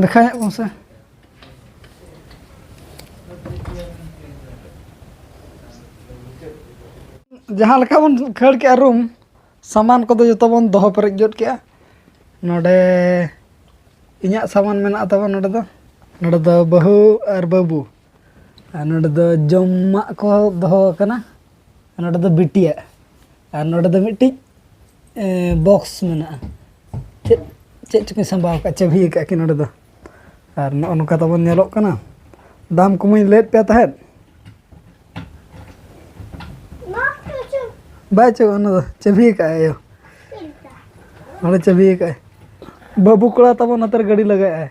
ᱫᱮᱠᱷᱟᱣ ᱧᱚᱜ ᱠᱚᱢ ᱥᱮ ᱡᱟᱦᱟᱸ ᱞᱮᱠᱟ ᱵᱚᱱ ᱠᱷᱟᱹᱲ ᱠᱮᱜᱼᱟ ᱨᱩᱢ ᱥᱟᱢᱟᱱ ᱠᱚᱫᱚ ᱡᱚᱛᱚ ᱵᱚᱱ ᱫᱚᱦᱚ ᱯᱮᱨᱮᱡ ᱡᱚᱫ ᱠᱮᱜᱼᱟ ᱱᱚᱰᱮ ᱤᱧᱟᱹᱜ ᱥᱟᱢᱟᱱ ᱢᱮᱱᱟᱜ ᱛᱟᱵᱚᱱ ᱱᱚᱰᱮ ᱫᱚ ᱱᱚᱰᱮ ᱫᱚ ᱵᱟᱹᱦᱩ ᱟᱨ ᱵᱟᱹᱵᱩ ᱟᱨ ᱱᱚᱰᱮ ᱫᱚ ᱡᱚᱢᱟᱜ ᱠᱚ ᱫᱚᱦᱚ ᱟᱠᱟᱱᱟ ᱟᱨ ᱱᱚᱰᱮ ᱫᱚ ᱵᱤᱴᱤᱭᱟᱜ ᱟᱨ ᱱᱚᱰᱮ ᱫᱚ ᱢᱤᱫᱴᱤᱡ ᱵᱚᱠᱥ ᱢᱮᱱᱟᱜᱼᱟ ᱪᱮᱫ ᱪᱮᱫ ᱪᱚᱠᱤᱱ ᱥᱟᱢᱵᱟᱣ ᱟᱠᱟᱫ ᱪᱟᱹᱵᱷᱤ ᱟᱠᱟᱫ ᱠᱤᱱ ᱱᱚᱰᱮ ᱫᱚ ᱟᱨ ᱱᱚᱜᱼᱚ ᱱᱚᱝᱠᱟ ᱛᱟᱵᱚᱱ ᱧᱮᱞᱚᱜ ᱠᱟᱱᱟ ᱫᱟᱢ ᱠᱚᱢᱟᱹᱧ ᱞᱟᱹᱭᱮᱫ ᱯᱮ ᱛᱟᱦᱮᱸᱫ ᱵᱟᱭ ᱪᱚ ᱚᱱᱟ ᱫᱚ ᱪᱟᱹᱵᱷᱤ ᱟᱠᱟᱫ ᱟᱭ ᱟᱭᱳ ᱱᱚᱰᱮ ᱪᱟᱹᱵᱷᱤ ᱟᱠᱟᱫ ᱟᱭ ᱵᱟᱹᱵᱩ ᱠᱚᱲᱟ ᱛᱟᱵᱚᱱ ᱱᱚᱛᱮᱨᱮ ᱜᱟᱹᱰᱤ ᱞᱟᱜᱟᱭᱮᱫ ᱟᱭ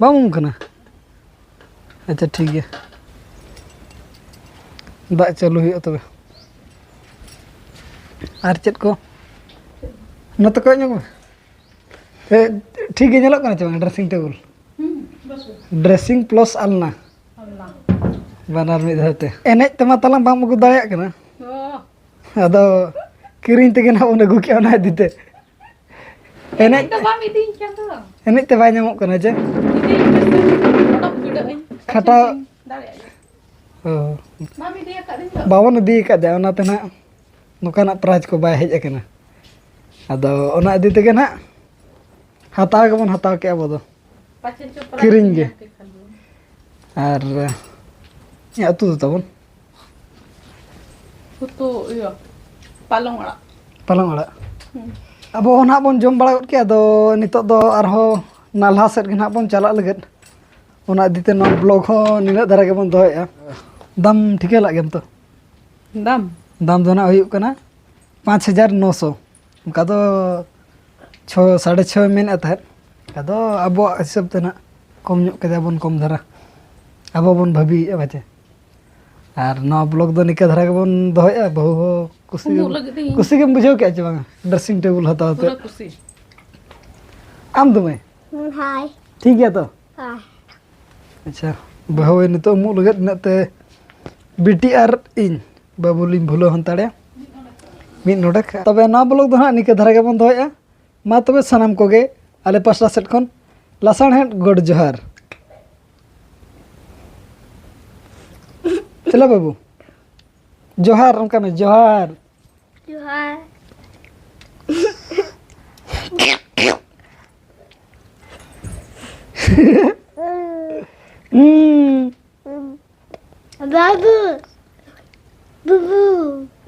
ᱵᱟᱢ ᱩᱢ ᱠᱟᱱᱟ ᱟᱪᱪᱷᱟ ᱴᱷᱤᱠ ᱜᱮᱭᱟ ᱫᱟᱜ ᱪᱟᱹᱞᱩ ᱦᱩᱭᱩᱜᱼᱟ ᱛᱚᱵᱮ ᱟᱨ ᱪᱮᱫ ᱠᱚ ᱱᱚᱛᱮ ᱠᱚᱭᱚᱜ ᱧᱚᱜᱽ ᱢᱮ ᱮ ᱴᱷᱤᱠ ᱜᱮ ᱧᱮᱞᱚᱜ ᱠᱟᱱᱟ ᱪᱮ ᱵᱟᱝ ᱰᱨᱮᱥᱤᱝ ᱴᱮᱵᱤᱞ ᱰᱨᱮᱥᱤᱝ ᱯᱞᱟᱥ ᱟᱞᱱᱟ ᱵᱟᱱᱟᱨ ᱢᱤᱫ ᱫᱷᱟᱣ ᱛᱮ ᱮᱱᱮᱡ ᱛᱮᱢᱟ ᱛᱟᱞᱟᱝ ᱵᱟᱢ ᱟᱹᱜᱩ ᱫᱟᱲᱮᱭᱟᱜ ᱠᱟᱱᱟ ᱟᱫᱚ ᱠᱤᱨᱤᱧ ᱛᱮᱜᱮ ᱱᱟᱦᱟᱜ ᱵᱚᱱ ᱟᱹᱜᱩ ᱠᱮᱜᱼᱟ ᱚᱱᱟ ᱤᱫᱤ ᱛᱮ ᱮᱱᱮᱡ ᱫᱚ ᱵᱟᱢ ᱤᱫᱤᱧ ᱠᱟᱱ ᱫᱚ ᱮᱱᱮᱡ ᱛᱮ ᱵᱟᱭ ᱧᱟᱢᱚᱜ ᱠᱟᱱᱟ ᱡᱮ ᱠᱷᱟᱴᱟᱣ ᱵᱟᱵᱚᱱ ᱤᱫᱤ ᱟᱠᱟᱫᱮᱭᱟ ᱚᱱᱟᱛᱮ ᱱᱟᱜ ᱱᱚᱝᱠᱟᱱᱟᱜ ᱯᱨᱟᱭᱤᱡᱽ ᱠᱚ ᱵᱟᱭ ᱦᱮᱡ ᱟᱠᱟᱱᱟ ᱟᱫᱚ ᱚᱱᱟ ᱤᱫᱤ ᱛᱮᱜᱮ ᱱᱟᱜ ᱦᱟᱛᱟᱣ ᱜᱮᱵᱚᱱ ᱦᱟᱛᱟᱣ ᱠᱮᱜᱼᱟ ᱟᱵᱚ ᱫᱚ ᱠᱤᱨᱤᱧ ᱜᱮ ᱟᱨ ᱟᱹᱛᱩ ᱫᱚ ᱛᱟᱵᱚᱱ ᱯᱟᱞᱚᱝ ᱟᱲᱟᱜ ᱯᱟᱞᱚᱝ ᱟᱲᱟᱜ ᱟᱵᱚ ᱦᱚᱸ ᱱᱟᱦᱟᱜ ᱵᱚᱱ ᱡᱚᱢ ᱵᱟᱲᱟ ᱜᱚᱫ ᱠᱮᱜᱼᱟ ᱟᱫᱚ ᱱᱤᱛᱚᱜ ᱫᱚ ᱟᱨᱦᱚᱸ ᱱᱟᱞᱦᱟ ᱥᱮᱫ ᱜᱮ ᱱᱟᱦᱟᱜ ᱵᱚᱱ ᱪᱟᱞᱟᱜ ᱞᱟᱹᱜᱤᱫ ᱚᱱᱟ ᱤᱫᱤ ᱛᱮ ᱱᱚᱣᱟ ᱵᱞᱚᱜᱽ ᱦᱚᱸ ᱱᱤᱱᱟᱹᱜ ᱫᱷᱟᱨᱟ ᱜᱮᱵᱚᱱ ᱫᱚᱦᱚᱭᱮᱜᱼᱟ ᱫᱟᱢ ᱴᱷᱤᱠᱟᱹ ᱞᱟᱜ ᱜᱮᱢ ᱛᱚ ᱫᱟᱢ ᱫᱟᱢ ᱫᱚ ᱱᱟᱦᱟᱜ ᱦᱩᱭᱩᱜ ᱠᱟᱱᱟ ᱯᱟᱸᱪ ᱦᱟᱡᱟᱨ ᱱᱚ ᱥᱚ ᱚᱱᱠᱟ ᱫᱚ ᱪᱷᱚ ᱥᱟᱲᱮ ᱪᱷᱚᱭ ᱢᱮᱱᱮᱫ ᱛᱟᱦᱮᱸᱫ ᱟᱫᱚ ᱟᱵᱚᱣᱟᱜ ᱦᱤᱥᱟᱹᱵ ᱛᱮ ᱱᱟᱦᱟᱜ ᱠᱚᱢ ᱧᱚᱜ ᱠᱮᱫᱟ ᱵᱚᱱ ᱠᱚᱢ ᱫᱷᱟᱨᱟ ᱟᱵᱚ ᱵᱚᱱ ᱵᱷᱟᱹᱵᱤᱭᱮᱜᱼᱟ ᱯᱟᱪᱮ ᱟᱨ ᱱᱚᱣᱟ ᱵᱞᱚᱜ ᱫᱚ ᱱᱤᱝᱠᱟᱹ ᱫᱷᱟᱨᱟ ᱜᱮᱵᱚᱱ ᱫᱚᱦᱚᱭᱟ ᱵᱟᱹᱦᱩ ᱦᱚᱸ ᱠᱩᱥᱤ ᱩᱢᱩᱜ ᱞᱟᱹᱜᱤᱫ ᱤᱧ ᱠᱩᱥᱤ ᱜᱮᱢ ᱵᱩᱡᱷᱟᱹᱣ ᱠᱮᱫᱼᱟ ᱪᱮ ᱵᱟᱝᱟ ᱰᱨᱮᱥᱤᱝ ᱴᱮᱵᱩᱞ ᱦᱟᱛᱟᱣ ᱛᱮ ᱯᱩᱨᱟᱹ ᱠᱩᱥᱤ ᱟᱢ ᱫᱚ ᱢᱟᱹᱭ ᱦᱟᱭ ᱴᱷᱤᱠ ᱜᱮᱭᱟ ᱛᱚ ᱦᱟᱭ ᱟᱪᱪᱷᱟ ᱵᱟᱹᱦᱩ ᱱᱤᱛᱚᱜ ᱩᱢᱩᱜ ᱞᱟᱹᱜᱤᱫ ᱤᱱᱟᱹᱜ ᱛᱮ ᱵᱤᱴᱤ ᱟᱨ ᱤᱧ ᱵᱟᱹᱵᱩ ᱞᱤᱧ ᱵᱷᱩᱞᱟᱹᱣ ᱦᱟᱛᱟᱲᱮᱭᱟ ᱢᱤᱫ ᱱᱚᱰᱮᱠ ᱛᱚᱵᱮ ᱱᱚᱣᱟ ᱵᱞᱚᱜ ᱫᱚ ᱦᱟᱸᱜ ᱱᱤᱝᱠᱟᱹ ᱫᱷᱟᱨᱟ ᱜᱮᱵᱚᱱ ᱫᱚᱦᱚᱭᱮᱫᱼᱟ ᱢᱟ ᱛᱚᱵᱮ ᱥᱟᱱᱟᱢ ᱠᱚᱜᱮ ᱟᱞᱮ ᱯᱟᱥᱴᱟ ᱥᱮᱫ ᱠᱷᱚᱱ ᱞᱟᱥᱟᱬᱦᱮᱫ ᱜᱚᱰ ᱡᱚᱦᱟᱨ ᱪᱮᱞᱟ ᱵᱟᱹᱵᱩ ᱡᱚᱦᱟᱨ ᱚᱱᱠᱟ ᱢᱮ ᱡᱚᱦᱟᱨ ᱡᱚᱦᱟᱨ ᱦᱩᱸ ᱵᱟᱹᱵᱩ ᱵᱩᱵᱩ